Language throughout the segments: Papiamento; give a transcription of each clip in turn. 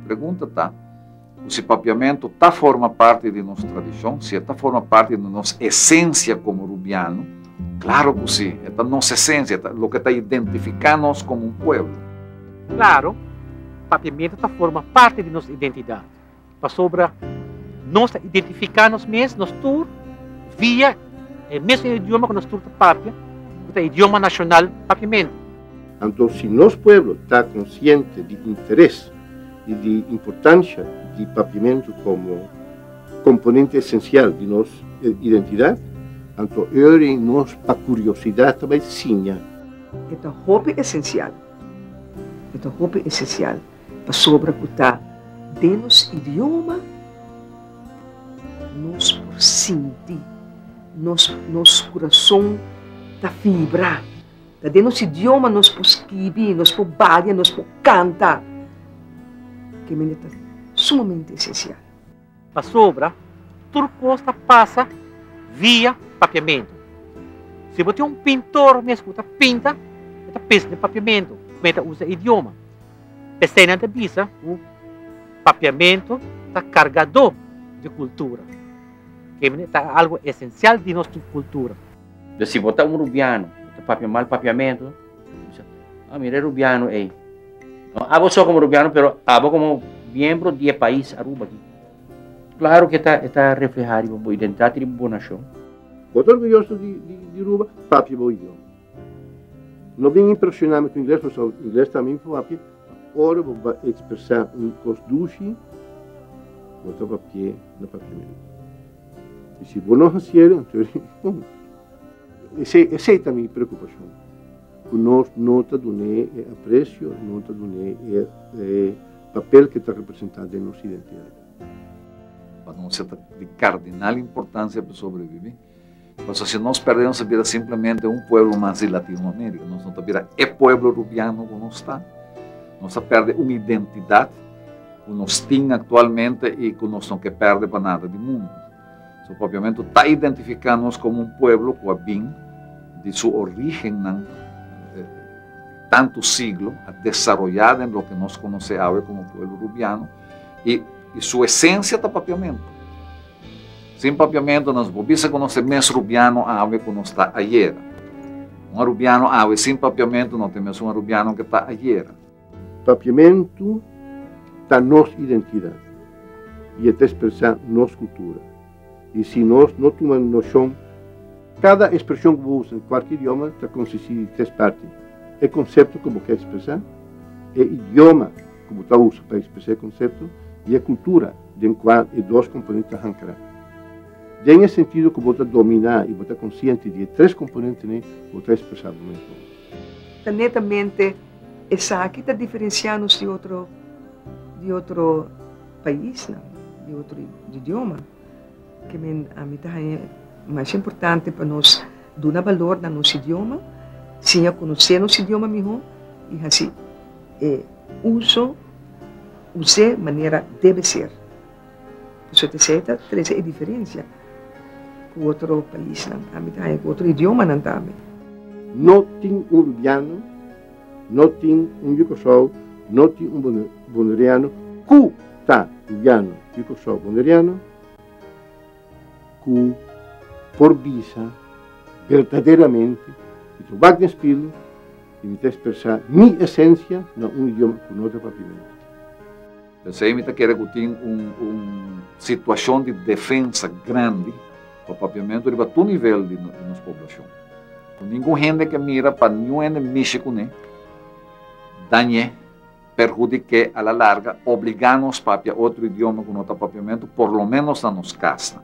Pregunta ta, Cu si papiamento ta forma parti di nos tradicion, si e ta forma parti di nos esencia como Rubiano? Claro cu si! E ta nos esencia, e ta loke ta identifica nos como un pueblo. Claro, papiamento ta forma parti di nos identidad. Pasobra nos ta identifiká nos mes, nos tur, via e mesun idioma ku nos tur ta papia, ku ta idioma nashonal papiamenti. Anto si nos pueblo ta konsiente di interes i di importansha di papiamentu komo komponente esensial di nos identidat, anto Öri nos pa kuriosidat ta bai siña. E ta hopi esensial, e ta hopi esensial. Pasobra ku ta den nos idioma nos por sinti, nos nos kurason ta fibra. Ta den nos idioma nos por skibi, nos por badia, nos por kanta. Ke mende ta sumamente esensial. Pasobra tur kos ta pasa via papiamentu. Si bo tin un pintor mes ku ta pinta, e ta pensa den papiamentu, kuma e ta usa e idioma. P'eseinan ta bisa ku papiamentu ta kargadó di kultura. Ke manera ta algu esensial di nos kultura. Enton si bo ta un rubiano, bo ta papia mal papiamentu. A mira e rubiano ey. No abo so como rubiano, pero abo como miembro di e pais Aruba aki. Claro que ta, e ta refleha riba bo identidad y riba bo nacion. Bo ta orguyoso di, di, di Aruba? Papia bo idioma. No bin impresiona mi cu ingles, pasobra mi ingles ta min papia. Ora bo bai expresa un cos dushi, bo ta papia na papiamentu. Y si bo no haciel, entonces, con? Esei ta mi preokupashon, ku nos no ta dun'é e apresio, no ta dun'é e papel ke ta representá den nos identidat. Pa nos e ta di kardinal importansia pa sobrebibí, pasobra si nos pèrdé nos ta bira simplemente un pueblo mas di Latinoamérika, nos no ta bira e pueblo rubiano ku nos ta, nos ta pèrdé un identidat ku nos tin aktualmente i ku nos no ke pèrdé pa nada di mundu. Su propiamentu ta identifiká nos komo un pueblo ku a bin di su orígennan tantu siglo, a desaroyá den loke nos konosé awe komo pueblo Rubiano, i su esensia ta papiamentu. Sin papiamentu nos por bisa ku nos ta e mes Rubiano awe ku nos ta ayera. Un Rubiano awe sin papiamentu no ta e mes un Rubiano ku ta ayera. Papiamentu ta nos identidat i e ta ekspresá nos kultura. I si nos no tuma noshon. Kada ekspreshon ku bo usa den kualke idioma ta konsistí di tres parti, e konsepto ku bo ke ekspresá, e idioma ku bo ta usa pa ekspresá e konsepto i e kultura den kua e dos komponente ta hankará. Den e sentido ku bo ta dominá i bo ta konsiente di e tres komponentenan, bo ta ekspresá bo mes bon. Netamente Esaki ta diferensiá nos di otro di otro paisnan, di otro idioma. Ke men a mi ta haña masha importante pa nos duna balor na nos idioma, siña konosé nos idioma mihó i hasi e uso, us'é manera debe ser. Pasobra esei ta trese e diferensia ku otro paisnan tambe ta haña, ku otro idiomanan tambe. No tin un rubiano, no tin un di Kòrsou, no tin un boneriano ku ta rubiano, di Kòrsou, boneriano ku por bisa berdaderamente mi ta wak den spilu i mi ta ekspresá mi esensia na un idioma ku no ta papimentu. P'esei mi ta kere ku tin un situashon di defensa grandi pa papiamentu riba tur nivel di nos poblashon. Ku ningun hende ke mira pa ningun hende mishi kuné, dañ'é, perhudik'é a la larga, obligá nos papia otro idioma ku no ta papiamentu, por lo ménos na nos kasnan.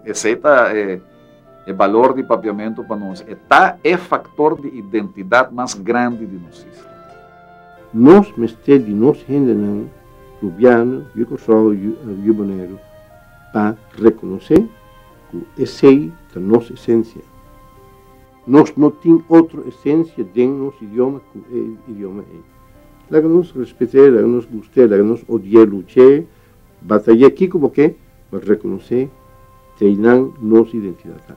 Esei ta e, e balor di papiamentu pa nos. E ta e faktor di identidat mas grandi di nos isla. Nos mester di nos hendenan, gobièrnu, yu Kòrsou, yu Boneiru, pa rekonosé ku esei ta nos esensia. Nos no tin otro esencia den nos idioma cu e idioma ei. Laga nos respet'e, laga nos gust'e, laga nos odi'e, luch'e, batay'e, kico bo ke, ma reconoc'e t'einan nos identidad ta.